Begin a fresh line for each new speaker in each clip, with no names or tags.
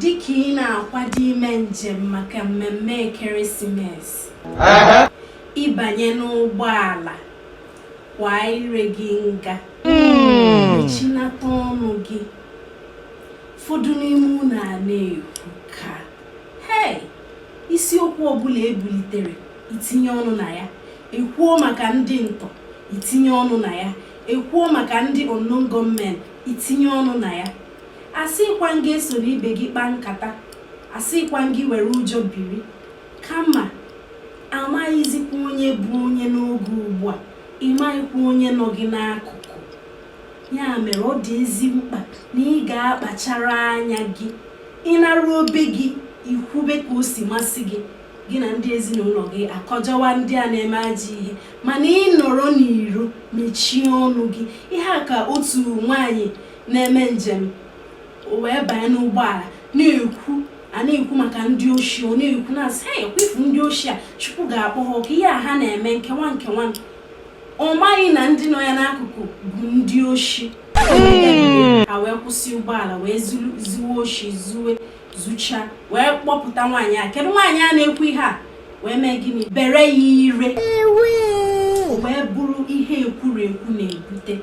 Dịka ị na-akwado ime njem maka mmemme ekeresimesi, ị banye n'ụgbọala kwa ire gị nga mechinata ọnụ gị ụfọdụ n'ime unu ana-ekwuka hei isiokwu ọbụla e bulitere i tinye ọnụ na ya e kwuo maka ndị ntọ i tinye ọnụ na ya e kwuo maka ndị unknown gunmen i tinye ọnụ na ya Asịkwa m gị esoro ibe gị kpaa nkata, asịkwa m gị were ụjọ biri, kama a maghịzikwa onye bụ onye n'oge ugbu a, ị maghịkwa onye nọ gị n'akụkụ. Ya mere ọ dị ezi mkpa na ị ga-akpachara anya gị. Ị naruo be gị, i kwube ka o si masị gị, gị na ndị ezinụlọ gị akọjọwa ndị a na-eme ajọ ihe. Mana ị nọrọ n'iro, mechie ọnụ gị. Ihe a ka otu nwaanyị na-eme njem wee banye n'ụgbọala na-ekwu a na-ekwu maka ndị oshi ọ na-ekwu na-asị ha ekwefu ndị oshi a Chukwu ga-akpọ ha ọkụ ihe a ha na-eme nkewa nkewa ọ maghị na ndị nọ ya n'akụkụ bụ ndị oshi ha wee kwụsị ụgbọala wee zuwe oshi zuwe zucha wee kpọpụta nwaanyị a kedu nwaanyị a na-ekwu ihe a wee mee gịnị bere ya ire wee bụrụ ihe ekwurekwu na-ebute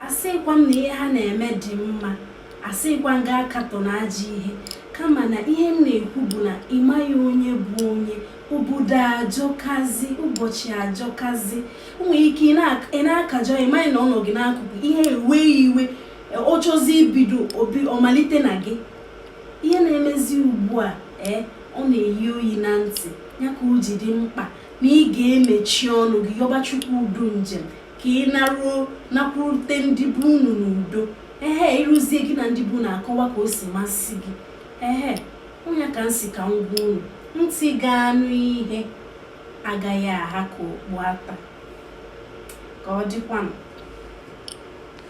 asịkwa m na ihe ha na-eme dị mma asịkwa m gị akatọna ajọ ihe kama na ihe m na-ekwu bụ na ị maghị onye bụ onye obodo ajọkazi ụbọchị ajọkazi o nwere ike ị na-akajọ ị maghị na ọ nọ gị n'akụkụ ihe ewe iwe ọ chọzi ibido obi ọ malite na gị ihe na-emezi ugbu a ee eh, ọ na-eyi oyi na ntị ya ka o ji dị mkpa na ị ga-emechi ọnụ gị yọba Chukwu udo njem ka ị naruo nakwurute ndị be unu n'udo ehe i ruzie gị na ndị be unu akọwa ka o si masị gị ehe ọ nya ka m sị ka m gwa unu ntị ga-anụ ihe agaghị aha ka okpu ata ka ọ dịkwanụ